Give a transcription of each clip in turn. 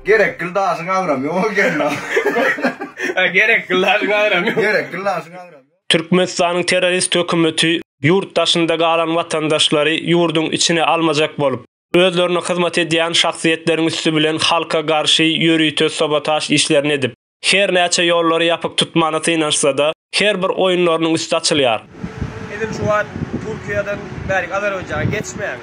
Gerek gildaşyň agram ýok ekeni. Gerek gildaşyň agram ýok. Gerek gildaşyň agram ýok. Türkmenistanyň terrorist hökümeti ýurt daşynda galan watandaşlary ýurduň içine almajak bolup, özlerine hyzmat edýän şahsyýetleriň üsti bilen halka garşy ýörite sabotaž işlerini edip, Her näçe ýollary ýapyk tutmana synanyşsa-da, her bir oýunlarynyň üsti açylýar. Edil şu wagt Türkiýeden bärik Azerbaýjana geçmäň.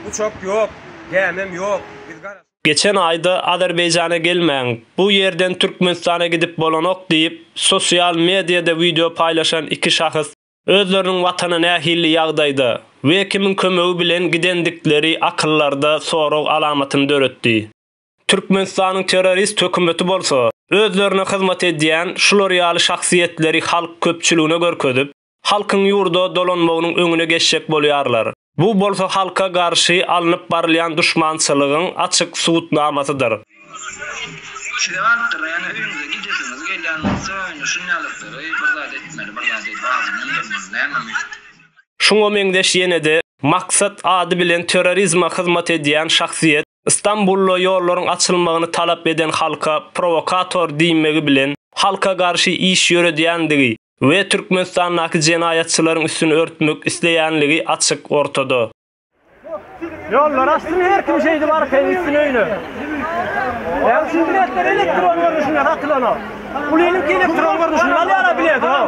Uçak ýok, gämem ýok. Biz garaşyp. Geçen aýda Azerbaýjana gelmäň, bu ýerden Türkmenistana gidip bolanok diýip, sosial mediada wideo paýlaşan iki şahs özleriniň watana nähili ýagdaýda we kimiň kömegi bilen gidendikleri akyllarda sorag alamatyny döretdi. Türkmenistanyň terrorist hökümeti bolsa, özlerine hyzmat edýän şular ýaly şahsyýetleri halk köpçüligine görkezip, halkyň ýurda dolanmagynyň öňüne geçjek bolýarlar. Bu bolsa halka garşy alnyp barylýan duşmançylygyň açyk subutnamasydyr. Şize baripdir-da, ýöne öýüňize gidesiňiz gelýän bolsa, indi şun ýalyklary bir zat etmeli, bir zat edip adyny öndürmeli, nämemi? Şuňa meňzeş ýene-de Maksat ady bilen terrorizme hyzmat edýän şahsyýet Stambulda ýollaryň açylmagyny talap eden halka prowokator diýmegi bilen halka garşy iş ýöredýändigi we Türkmenistandaky jenaýatçylaryň üstüni örtmek isleýänligi açyk ortada. Ýollary açsyn her kim şeýdip arkaýyn gitsin öýüne. Näme üçin biletler elektron görnüşinde satylanok? Pulynyňky elektron görnüşinde alýara bileti hao.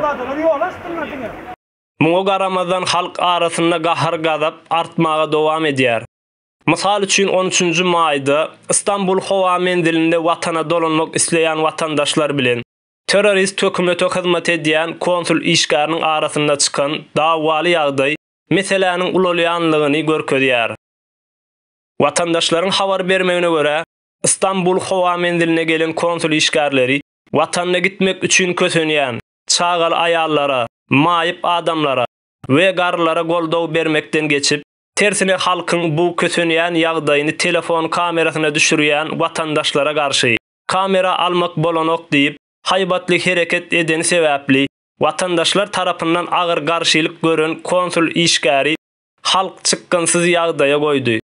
Muňa garamazdan halk arasynda gahar-gazap artmaga dowam edýär. Mysal üçin, on üçünji maýda Stambul howa menzilinde watana dolanmak isleýän watandaşlar bilen terrorist hökümete hyzmat edýän konsul işgäriniň arasynda çykan dawaly ýagdaý meseläniň ulalýanlygyny görkezýär. Watandaşlaryň habar bermegine görä, Stambul howa menziline gelen konsul işgärleri watanyna gitmek üçin kösenýän çagaly aýallara, maýyp adamlara we garrylara goldaw bermekden geçip, Tersine halkyň bu kösenýän ýagdaýyny telefon kamerasyna düşürýän watandaşlara garşy, kamera almak bolanok diýip, haýbatly hereket edeni sebäpli, watandaşlar tarapyndan agyr garşylyk gören konsul işgäri halk çykgynsyz ýagdaýa goýdy.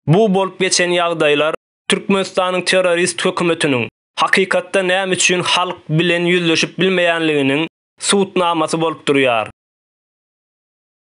Bu bolup geçen ýagdaýlar Türkmenistanyň terrorist hökümetiniň hakykatda näme üçin halk bilen ýüzleşip bilmeýänliginiň subutnamasy bolup durýar.